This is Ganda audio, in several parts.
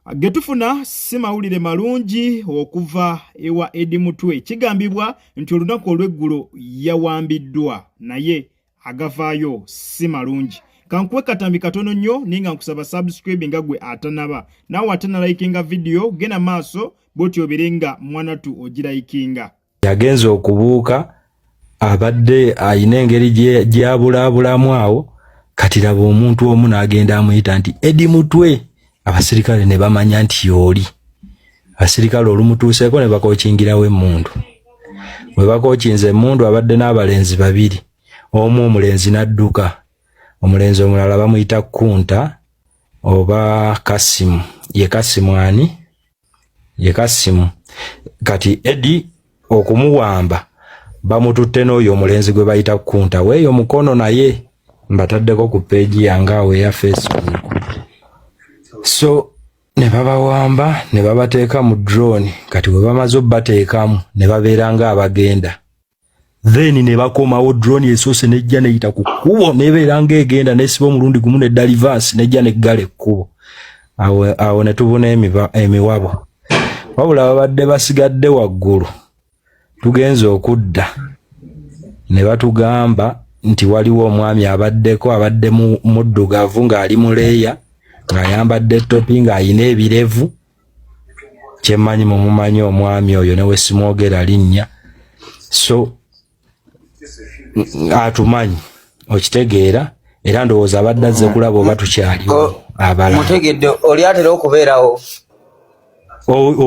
Getufuna si mawulire malungi okuva ewa Edi Mutwe. Kigambibwa nti olunaku olw'eggulo yawambiddwa naye agavaayo si malungi. Kankuwe katambi katono nnyo naye nga nkusaba subscribe nga gwe atanaba naawe ate nalayikinga vidiyo genda maaso bwotyo obeere nga mwanatu ogirayikinga. yagenze okubuuka abadde alina engeri gyabulaabulamu awo kati laba omuntu omu n'agenda amuyita nti edi mutwe abasirikale ne bamanya nti yooli abasirikale olumutuuseeko ne bakokingirawo emmundu bwe bakokinze emmundu abadde n'abalenzi babiri omu omulenzi n'adduka omulenzi omulala bamuyita kunta oba kasimu ye kasimu ani ye kasimu kati edi okumuwamba bamututte n'oyo omulenzi gwe bayita kunta weeyo mukono naye mbataddeko ku peegi yange awo eya facebook so ne babawamba ne babateeka mu drone kati bwe bamaze obateekamu ne babeera nga abagenda then ne bakomawo drone esoose nejja neyita ku kkubo nebeera ng'egenda nesiba omulundi gumu ne dalivasi nejja neggala ekkubo awo awo ne tubuna emiwabo wabula babadde basigadde waggulu tugenze okudda ne batugamba nti waliwo omwami abaddeko abadde muddugavu ng'ali mu leeya ng'ayambadde topi ng'alina ebirevu kyemanyi mumumanyi omwami oyo newesimwogera linnya so atumanyi okitegeera era ndowooza abadde azze kulaba oba tukyaliwo abala mutegedde oli atera okubeerawo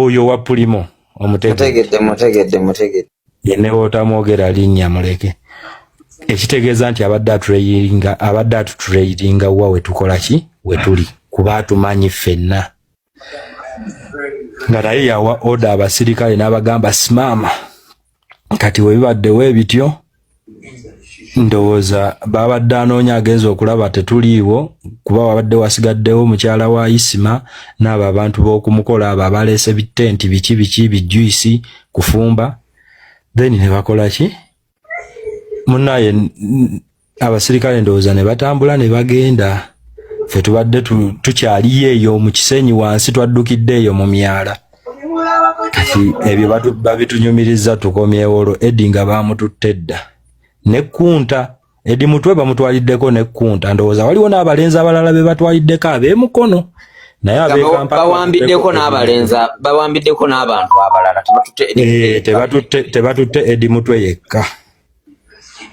oyo wa pulimo omutegedde mutegedde mutegedde yene wotamwogera linnya muleke ekitegeeza nti abadde atureyiringa abadde atutureyiringa wa wetukola ki wetuli kuba atumanyi ffenna nga naye yawa oda abasirikale n'abagamba simama kati webibaddewo ebityo ndowooza baabadde anoonya agenza okulaba tetuliiwo kuba wabadde wasigaddewo mukyala wa isima n'abo abantu b'okumukola abo abaleese bitenti biki biki bijuyisi kufumba then ne bakola ki munaye abasirikale ndowooza ne batambula ne bagenda fe tubadde tukyaliyo eyo mu kisenyi wansi twaddukidde eyo mu myala kati ebyo babitunyumiriza tukomyewo olwo edi nga bamututte dda nekkunta edi mutwe bamutwaliddeko nekkunta ndowooza waliwo n'abalenzi abalala be batwaliddeko ab'emukono naye abawambiddeko n'abalenzi bawambiddeko n'abantu abalala tebatutte edi eh, mutwe yekka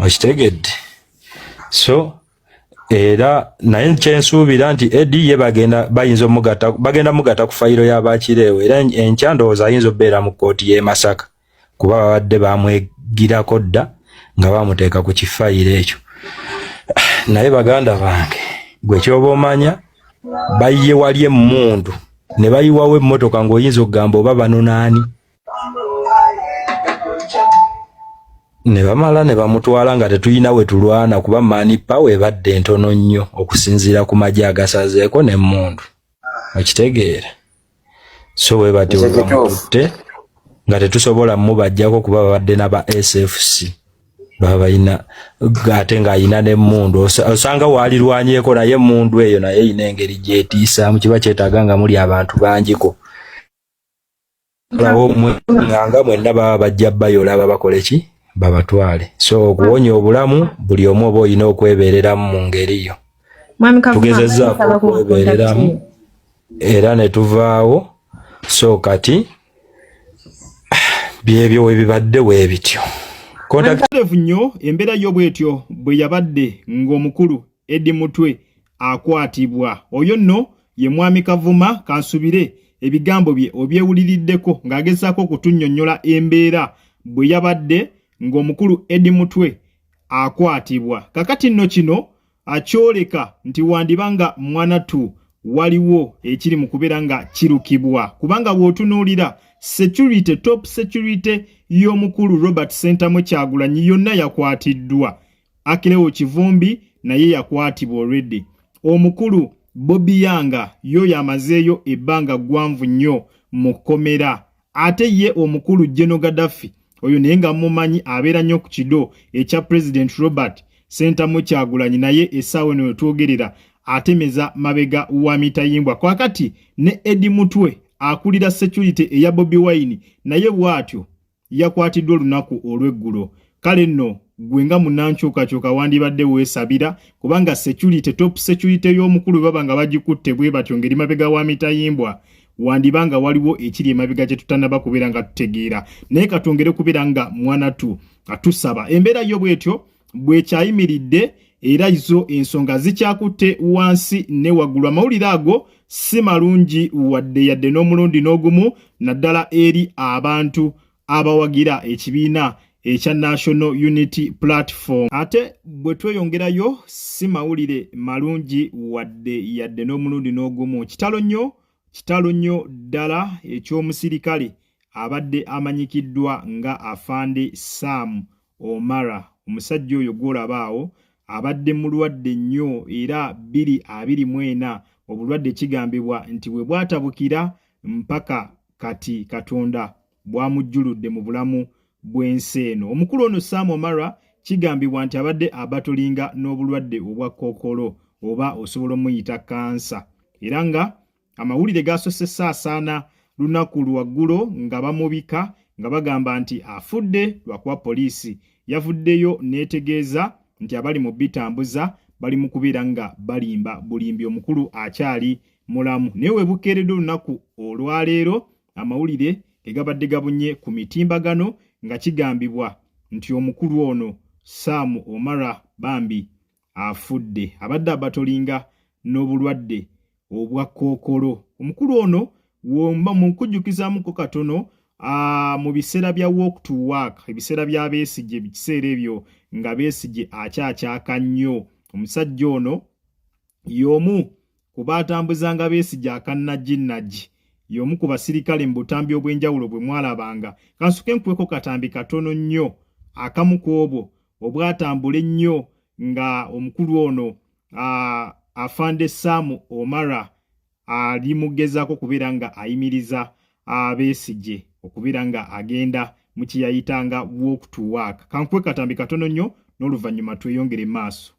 okitegedde so era naye kyensuubira nti edi ye bagenda bayinza omugata bagenda mugata ku fayiro ya bakireewo era enkya ndowooza ayinza okubeera mu kkooti y'e Masaka kuba babadde bamwegirako dda nga bamuteeka ku kifayiro ekyo naye baganda bange gwe kyoba omanya bayiye wali emmundu ne bayiwawo emmotoka ng'oyinza okugamba oba banonaani ne bamala ne bamutwala nga tetulina we tulwana kuba mani pawa ebadde ntono nnyo okusinziira ku magye agasazeeko n'emmundu okitegeera so bwe bati webamututte nga tetusobola mubajjako kuba babadde naba sfc baba balina ate ng'alina n'emmundu osanga waalirwanyeeko naye emmundu eyo naye erina engeri gyetiisaamu kiba kyetaaga nga muli abantu bangiko lawo nganga mwenna baba bajja bayola babakole ki babatwale so okuwonya obulamu buli omu oba olina okwebereramu mu ngeri yo tugezezaako okwebereramu era ne tuvaawo so kati byebyo webibadde webityo kontakiterevu nnyo embeera yo bwetyo bwe yabadde ng'omukulu edi mutwe akwatibwa oyo nno ye mwami kavuma kansubire ebigambo bye obyewuliriddeko ng'agezaako okutunnyonnyola embeera bwe yabadde ng'omukulu edi mutwe akwatibwa kakati nno kino akyoleka nti wandiba nga mwanatu waliwo ekiri mu kubeera nga kirukibwa kubanga bw'otunuulira security top security y'omukulu robert sentamu kyagulanyi yonna yakwatiddwa Akilewo Kivumbi naye yakwatibwa already. Omukulu Bobi Yanga yo yamazeeyo ebbanga ggwanvu nnyo mu kkomera. Ate ye omukulu General Gaddafi oyo naye nga mumanyi abeera nnyo ku kido ekya President Robert Sentamu Kyagulanyi naye essaawa eno wetwogerera atemeza mabega wa mitayimbwa. Kwakati ne Eddie Mutwe akulira security eya Bobi Wine naye bwatyo. yakwatiddwa olunaku olw'eggulo kale nno gwe nga munankyukakyuka wandibadde weesabira kubanga security top security y'omukulu baba nga bagikutte bwe batyo ngeri mabega wa mitayimbwa wandiba nga waliwo ekiri emabega kye tutanaba kubeera nga tutegeera naye katwongere kubeera nga mwana tu atusaba embeera yo bwetyo bwekyayimiridde era izo ensonga zikyakutte wansi ne waggulu amawulire ago si malungi wadde yadde n'omulundi n'ogumu naddala eri abantu abawagira ekibiina ekya national unity platform ate bwe tweyongerayo si mawulire malungi wadde yadde n'omulundi n'ogumu kitalo nnyo kitalo nnyo ddala eky'omusirikale abadde amanyikiddwa nga afande saamu Omara omusajja oyo gwolaba awo abadde mulwadde nnyo era bbiri abiri mu ena obulwadde kigambibwa nti bwe bwatabukira mpaka kati Katonda bwamujjuludde mu bulamu bw'ensi eno. Omukulu ono Sam Omara kigambibwa nti abadde abatolinga n'obulwadde obwa kookolo oba osobola omuyita kansa era nga Amawulire gaasosse saasaana lunaku lwaggulo nga bamubika nga bagamba nti afudde lwakuba poliisi yavuddeyo n'etegeeza nti abali mu bitambuza bali mu kubeera nga balimba bulimbi omukulu akyali mulamu naye webukeeredde olunaku olwaleero amawulire egabadde gabunye ku mitimbagano nga kigambibwa nti omukulu ono saamu omara bambi afudde abadde abatolinga n'obulwadde obwa kookolo omukulu ono womba mukujjukizamuko katono mu biseera bya walk to work ebiseera bya besigye bikiseera ebyo nga besigye akyakyaka nnyo omusajja ono y'omu ku baatambuzanga besigye akannaginnagi y'omu ku basirikale mu butambi obw'enjawulo bwe mwalabanga kansuke nkuweko katambi katono nnyo akamu ku obwo obwatambula ennyo nga omukulu ono afande saamu omara ali mugezaako okubeera nga ayimiriza abeesigye okubeera nga agenda mu kyeyayitanga walk to work kankuwe katambi katono nnyo n'oluvannyuma tweyongere maaso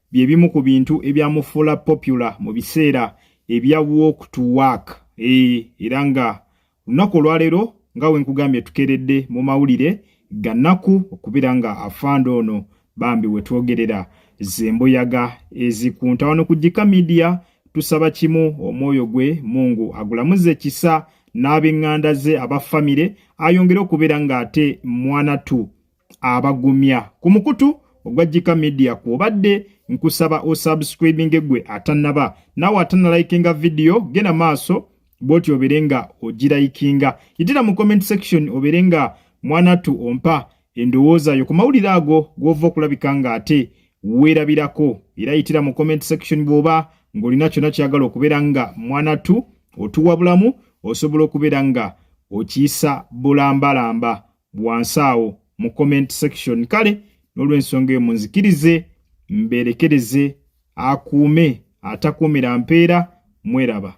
bye bimu ku bintu ebyamufuula popular mu biseera ebya walk to work e, era nga lunaku olwaleero nga we nkugambye tukeredde mu mawulire gannaku okubeera nga afande ono bambi we twogerera zembuyaga ezikunta wano ku jika midiya tusaba kimu omwoyo gwe mungu agulamuze kisa n'abenganda ze aba famire ayongere okubeera ng'ate mwana tu abagumya ku mukutu ogwa jika media kwobadde nkusaba osubscribinge gwe atanaba nawe atanalayikinga vidiyo genda maaso bwoti obere nga ogirayikinga yitira mu comment section obere nga mwanatu ompa endowooza yo ku mawulire ago gwova okulabika nga ate weerabirako era yitira mu comment section bwoba ng'olina kyona kyagala okubeera nga mwanatu otuwa bulamu osobola okubeera nga okiyisa bulambalamba wansi awo mu comment section kale n'olwensonga eyo munzikirize mbeerekereze akuume atakuumira mpeera mweraba